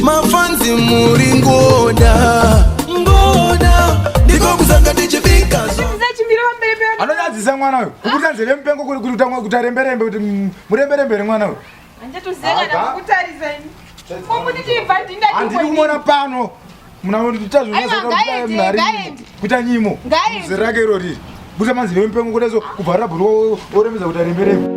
mafanzi muri ngoda ngoda ndiko kuzanga tichibika anonyadzisa mwana uyu kuburitsa nzeve mupengo kuri kuti utanga kuti aremberembe kuti muremberembe here mwana uyu handiri kumona pano muna tazvonyasoaari kuita nyimo zera rake iro riri busa manzi nemupengo kudaso kubva rabhuru oremedza kuti arembereko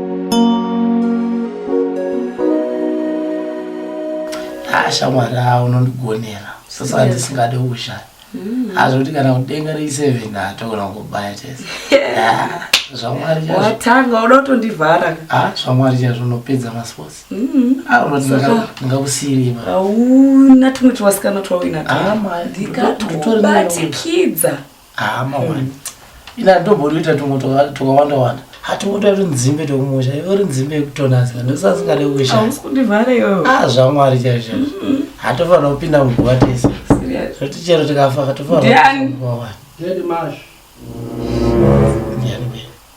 ah, shamwari a unondigonera sasa andisingade kushaya mm. azvoti kana kudenga reiseven atogona kubaya tese ah, zvamwari watanga uda kutondivhara ah, zvamwari chazvo unopedza masports Mm, hauna tumwe tuwasikana twauinatwubatikidza hama wani ina ndombotoita tumwe twakawanda wanda hatingotoita kuti nzimbe tokumusha ivo ri nzimbe yekutonazika ndosasingade kushaya zvamwari chaizvo hatofanira kupinda muguva tese zvoti chero tikafa hatofanira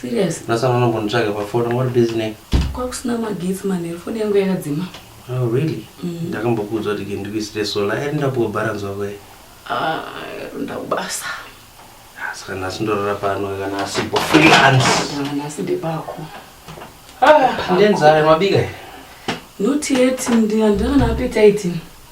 Serious? Nasana unombonditsvaga pafoni ngori busy nei? Kwakusina magetsi manheru foni yangu yakadzima. Oh really? Mm. Ndakambokuudzwa kuti ndikuisire solar and ndapuwa balance wako here? Ah, ndakubasa. Ah, saka nhasi ndorara pano kana asipo freelance. Ah, nhasi ndepako. Ah, ndenzara mabika. Not yet, ndandana appetite.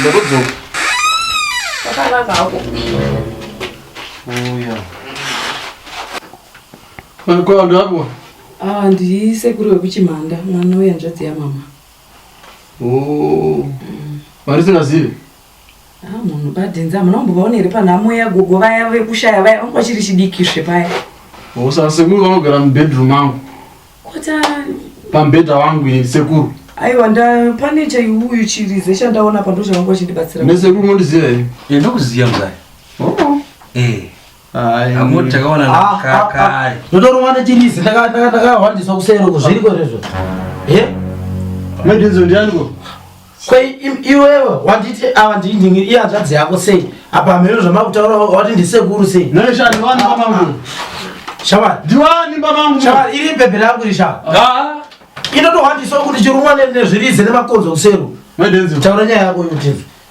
ndakudzoka kwakanaka hako uya kwaandako ah, ndiri sekuru wekuchimhanda mwana wehanzvadzi yamama oh. vari singazivi Ah, munhu badhinzi hamuna kumbovaona here panhamo yagogo vaya vekushaya vaya vanga vachiri chidiki zve paya Usa sekuru vanogara mubedroom mangu. kotani Pambedha wangu ini sekuru. aiwa nda pane chaiuyu chirize chandaona pa ndochavangu vachindibatsira Nesekuru mondiziva here? Enda kuziya mzaya. Oh. Eh. Amor takawana na ah, kaka. Ah, ah. Ndotorwa nechirizi ndakahwandiswa kusero kuzviriko rezvo. Eh? Mendinzo ndianiko? Kwai iwewe wanditi ava ndindingi iye hanzvadzi yako sei? Apa mhero zvamakutaura wati ndisekuru sei? Neshani wani pamangu. Shamari. Ndiwani pamangu. Shamari iri pepe rangu risha. Ah. Inotohwandiswa kuti chirumwa nezvirizi nemakonzo kusero. Mendinzo. Taura nyaya yako yotinzo.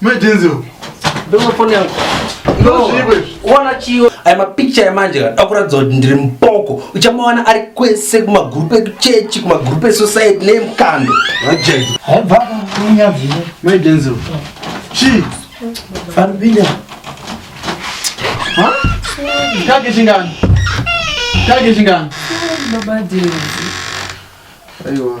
Mai Denzel. Ndoma phone yangu. Ona chiyo aya mapicture yamanje ka akuratidza kuti ndiri mupoko uchamawana ari kwese kumagrupu ekuchechi kumagrupu esociety neemukando aripinda kake chingani kake chingani aiwa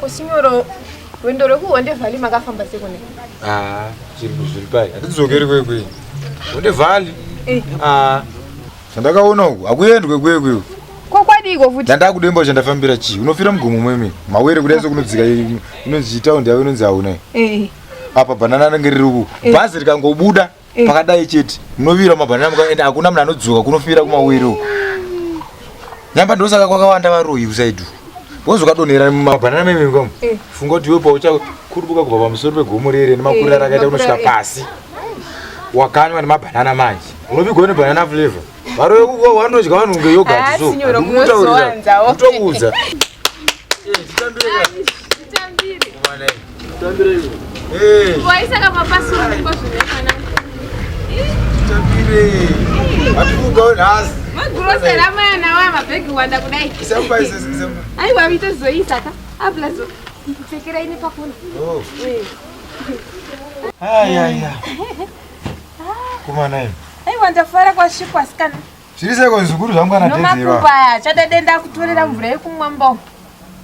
kusinyoro rwendo rwekuhonde vhali makafamba sekune ah, zviri pai hatidzokeri kwekwe honde vhali eh. ah. zvandakaona uku hakuendwe kwekwe uku kokwadiko futi ndandakudemba chandafambira chii unofira mugomo mwemene mawere kudai sokunodzika inonzi taundi yavo inonzi hauna eh. apa bhanana anenge riri uku eh. bhazi rikangobuda Eh. pakadai chete munovira mabhanana muka ende hakuna munhu anodzoka kunofira kumawere uko nyamba ndosaka kwakawanda varoyi kusaidu wozokadonhera mumabhanana memimba mu Eh. funga kuti iwe pauchakurubuka kubva pamusoro pegomo rere nemakurira Eh, rakaita kunosvika makurira. pasi wakanywa nemabhanana manje unopigwa nebhanana flavor Varove kuko wanodya vanhu kunge yogurt ah, so. Ndikutaurira. Ndikuudza. aiwa vitozoisa ka ablazo pfekera ine pakona oh. eh. Kumanai. Aiwa ndafara kwasvikwa sikana. Zviri seko zvikuru zvangu kana tenzi. Nomakubaya chada denda kutorera mvura yekumwa mbo.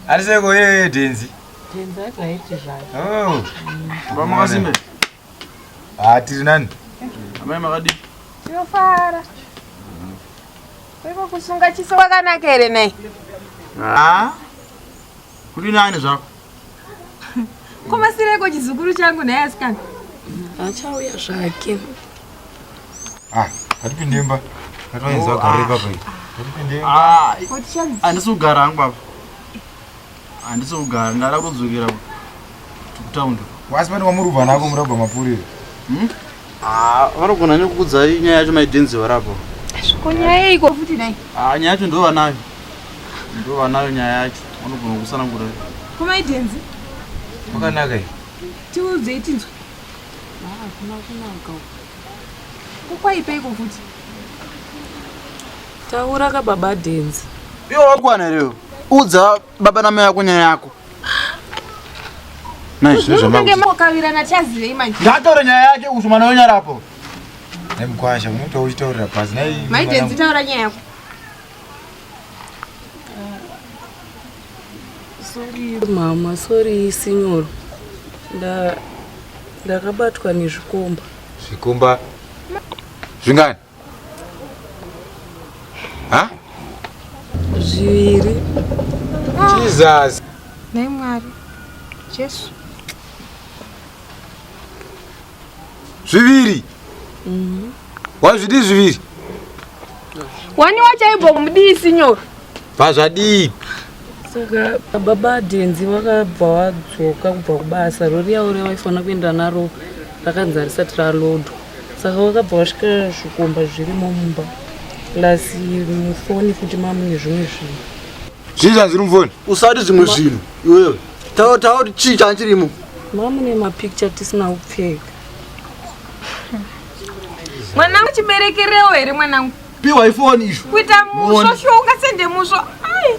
Ari seko yeye tenzi. Tenzi akaiti zvake. Oh. Mama kasimbe. Ah tiri nani? Amai makadi. Tinofara. Kweko kusunga chiso kwakanaka here nei? Ah. Kuri nani zvako? Komasireiko chizukuru changu naye asikana? Achauya zvake. Ah, hatipinde imba. Hatipinde oh, ah. imba. Hatipinde imba. Ah, handisi kugara hangu baba. Handisi kugara, ndada kudzokera kutown. Wasi pane wamuri kubva nako murabva mapurira. Hmm? Ah, vanogona nekukudzai nyaya yacho maidenzi varapo. Ko nyaya iko futi dai. Ah, nyaya yacho ndova nayo. Ndova nayo nyaya yacho. Vanogona kusana ngura. Ko maidenzi. Makanaka iyi. Tiudze itinzwe. Ah, kuna kuna uko. Ko kwaipa iko futi. Taura ka baba denzi. Yo wakwana leo. Udza baba namai vako nyaya yako ndatore nyaya yake kuti mwana wenyarapo nemkwasha unotaura uchitaurira pasi naimaidendzitaura nyaya yako sorry mama sorry sinyoro ndakabatwa nezvikomba zvikomba zvingani ha zviviri jesus nhai mwari jesu zviviri mm-hmm. wazvidi zviviri wani wachaibva kumudii sinyoro pazvadii saka baba denzi vakabva wadzoka kubva kubasa rori yavo revaifanira kuenda naro rakanzi harisati ralodwa saka wakabva wasvika zvikomba zvirimo mumba plus mufoni futi mamune zvimwe zvinhu zvii zvanziri mufoni usati zvimwe zvinhu iwewe taura taura kuti chii chanchirimo mamune mapicture tisina kupfeka mwanangu chiberekerewo here mwanangu piwa ifoni izvo kuita musvo sho ungasende musvo ai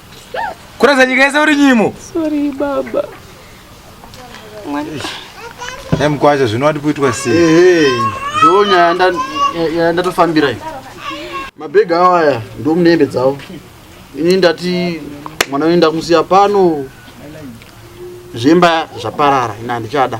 Kurasa nyika yese uri nyimo. Sorry baba. Hey, mkwasha zvino wati kuitwa sei? Hey, hey. Ndoo nyaya yandatofambira iyi. Mabhega awo aya ndo munehembe dzavo. Ini ndati mwana wenyu ndakumusiya pano. Zvemba zvaparara ina ndichada.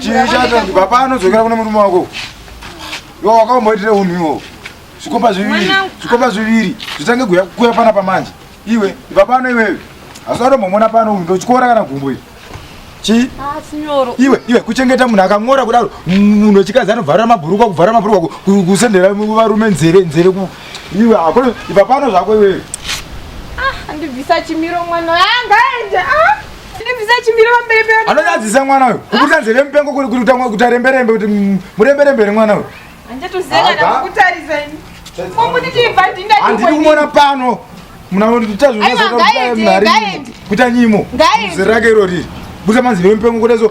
chiichatandibva panodzokera kune murume wako iwo wakaomboitire unhu iwowo zvikomba zviviri zvikomba zviviri zvitange kuya pana pamanje iwe ibva pano iwewe hazvatombomona pano unhu ndochikora kana gumbo iri chii ah, iwe iwe kuchengeta munhu akang'ora kudaro munhu wechikadzi anovharira mabhurukwa kuvharira mabhurukwa kusendera varume nzeve nzeve iwe hakuna ibva pano zvako iwewe ah, andibvisa chimiro mwana anga ah, aende anonyadzisa mwana uyu kuputisa nzeve mupengo kuti aremberembe kuti muremberembere mwana uyu handidi kumona pano munatazvikuita nyimo zera rake irori busa manzeve mupengo kudaso